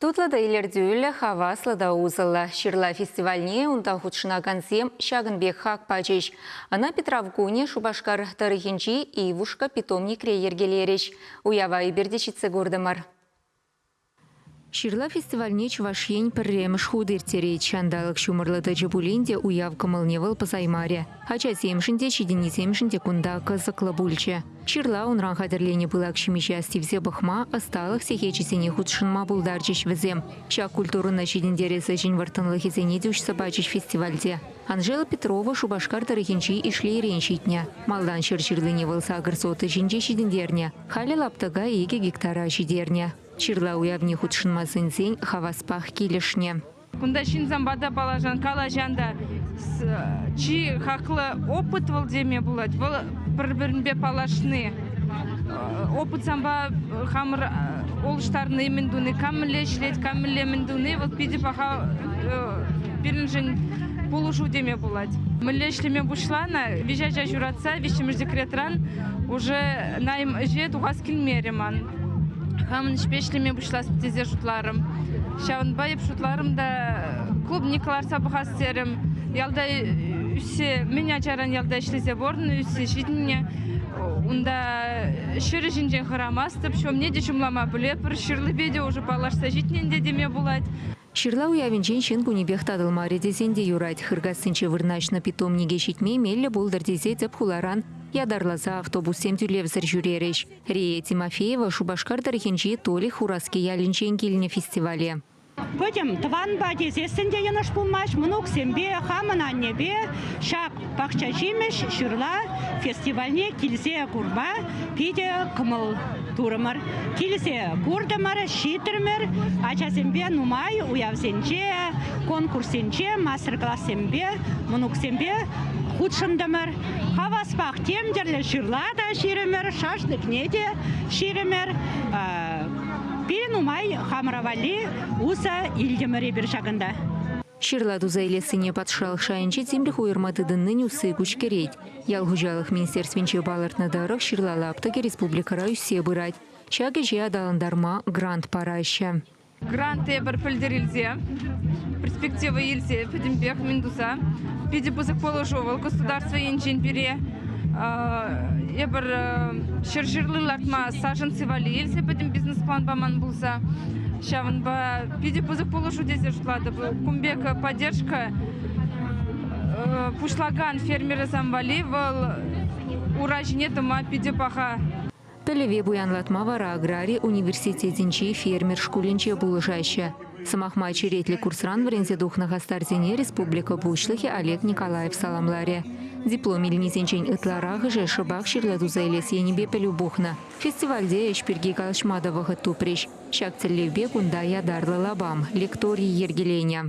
Тутлӑ та илӗртӳллӗ, хаваслӑ та усӑллӑ. Ҫырла фестивальне унта хутшӑнакансем ҫакӑн пек хак пачӗҫ. Ӑна Питрав кунӗ Шупашкар тӑрӑхӗнчи Ивушка питомникре йӗркелерӗҫ. Уява эпир те ҫитсе куртӑмӑр. Ҫырла фестивальне Чӑваш Ен пӗрремӗш хут ирттерет. Ҫанталӑк ҫумӑрлӑ тӑчӗ пулин те уяв кӑмӑлне вӑл пӑсаймарӗ. Ачасемшӗн те, ҫитӗннисемшӗн те кунта кӑсӑклӑ пулчӗ. Ҫырла унран хатӗрленӗ пылак ҫимӗҫе астивсе пӑхма, ӑсталӑх сехечӗсене хутшӑнма пултарчӗҫ вӗсем. Ҫак культурӑна ҫитӗнтерес ӗҫӗн вӑрттӑнлӑхӗсене те уҫса пачӗҫ фестивальте. Анжела Петрова Шупашкар тӑрӑхӗнчи Ишлейрен ҫитнӗ. Малтан ҫӗр ҫырлине вӑл сакӑр сотка ҫинче ҫитӗнтернӗ, халӗ лаптӑка икӗ гектара ҫитернӗ. Ҫырла уявне хутшӑнма сӗнсен хаваспах килӗшнӗ. Кунта ҫынсемпе та паллашан, калаҫан та. Чи хаклӑ опыт вӑл теме пулать. Вӑл пӗр-пӗринпе паллашни, опыт санпа хамӑр улӑштарни, мӗн туни, кам мӗнле ӗҫлет, кам мӗнле мӗн туни, вӑл питӗ паха пирӗншӗн пулӑшу теме пулать. Мӗнле ӗҫлеме пуҫланӑ, виҫе ача ҫуратса виҫҫӗмӗш декретран уже найм ӗҫе тухас килмерӗ ман. Хамӑн ӗҫпе ӗҫлеме пуҫлас тесе шутларӑм. Ҫавӑнпа эп шутларӑм та клубник ларса пӑхас терӗм. Ялта ӳссе мӗн ачаран ялта ӗҫлесе пурӑннӑ, ӳссе ҫитӗннӗ. Унта ҫӗр ҫинчен хӑрамастӑп, ҫумне те ҫумлама пӗлетпӗр, ҫырлипе те уже паллашса ҫитнӗ ӗнтӗ теме пулать. Ҫырла уявӗнчен ҫын кунӗпех татӑлмарӗ тесен те юрать. Хыркассинче вырнаҫнӑ питомнике ҫитме меллӗ пултӑр тесе тӗп хуларан ятарласа автобуссем тӳлевсӗр ҫӳрерӗҫ. Рия Тимофеева Шупашкар тӑрӑхӗнчи Толи Хураски ялӗнчен килнӗ фестивале. Пӗтӗм тӑванпа тесессӗн те йӑнӑш пулмасть мӑнуксемпе, хамӑн аннепе ҫак пахчаҫимӗҫ ҫырла фестивальне килсе курма питӗ кӑмӑл турӑмӑр. Килсе куртӑмӑр, ҫитрӗмӗр. Ачасемпе нумай уявсенче, конкурссенче, мастер-классемпе мӑнуксемпе хутшӑнтӑмӑр. Хаваспах тем тӗрлӗ ҫырла та ҫирӗмӗр, шашлыкне те ҫирӗмӗр. Пирӗн нумай хамӑра валли усӑ илтӗмӗр эпир ҫакӑнта. Ҫырла туса илессине патшалӑх шайӗнче тимлӗх уйӑрма тытӑннин усси куҫкӗрет. Ял хуҫалӑх министерствинче палӑртнӑ тӑрӑх, ҫырла лаптӑкӗ республикӑра ӳссе пырать. Ҫак ӗҫе аталантарма грант параҫҫӗ. гранте пӗр пӗлтӗр илсе, перспектива илсе пӗтӗмпех мӗн туса питӗ пысӑк пулӑшу вӑл государство енчен пире эпир ҫӗршывли лартма сашӑнси валли илсе пӗтӗм бизнес план паман пулса ҫавӑнпа питӗ пысӑк пулӑшу тесе шутлатӑп кун пек поддержка пуҫлакан фермерсем валли вӑл ура ҫине тӑма питӗ паха Пӗлӗве пуянлатма вара аграри университетӗнчи фермер шкулӗнче пулӑшаҫҫӗ. Сӑмах май черетлӗ курсран вӗренсе тухнӑ хастарсене республика Пуҫлӑхӗ Олег Николаев саламларӗ. Диплом илнисенчен ытларахӑшӗ шӑпах ҫырла туса илес енӗпе пӗлӳ пухнӑ. Фестивальте ӗҫ пирки калаҫма та вӑхӑт тупрӗҫ. Ҫак тӗллевпе кунта ятарлӑ лапам, лекторий йӗркеленӗ.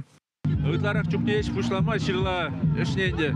Ытларах чухне ӗҫ пуҫлама ҫырла ӗҫне ӗнтӗ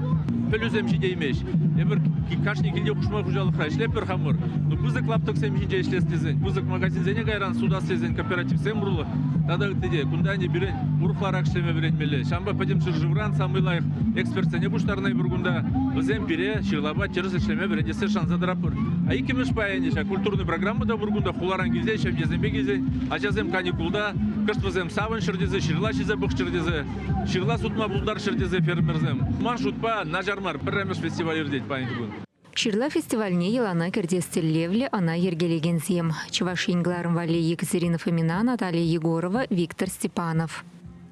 пӗлӳсем ҫитеймест. Эпир кашни килте хушма хуҫалӑхра ӗҫлетпӗр хамӑр. Но пысӑк лаптӑксем ҫинче ӗҫлес тесен, пысӑк магазинсене кайран сутас тесен кооперативсем урлӑ тата ытти те кунта ӗнтӗ пирӗн урӑхларах ӗҫлеме вӗренмелле. Ҫавӑнпа пӗтӗм ҫӗршывран самый лайӑх экспертсене пуҫтарнӑ эпир кунта. Вӗсем пире ҫырлапа тӗрӗс ӗҫлеме вӗрентессе шанса тӑратпӑр. А иккӗмӗш пайӗ ӗнтӗ ҫак культурная программа та пур кунта хуларан килсен, ҫемьесемпе килсен Ачасем каникулта кӑшт вӗсем савӑнччӑр тесе, ҫырла ҫисе пӑхчӑр тесе, ҫырла сутма пултарччӑр тесе фермерсем. Ман шутпа, начар мар, пӗрремӗш фестиваль иртет паянхи кун. Ҫырла фестивальне йӑлана кӗртес тӗллевлӗ ӑна йӗркелекенсем, Чӑваш Ен кӑларӑм валли Екатерина Фомина, Наталья Егорова, Виктор Степанов.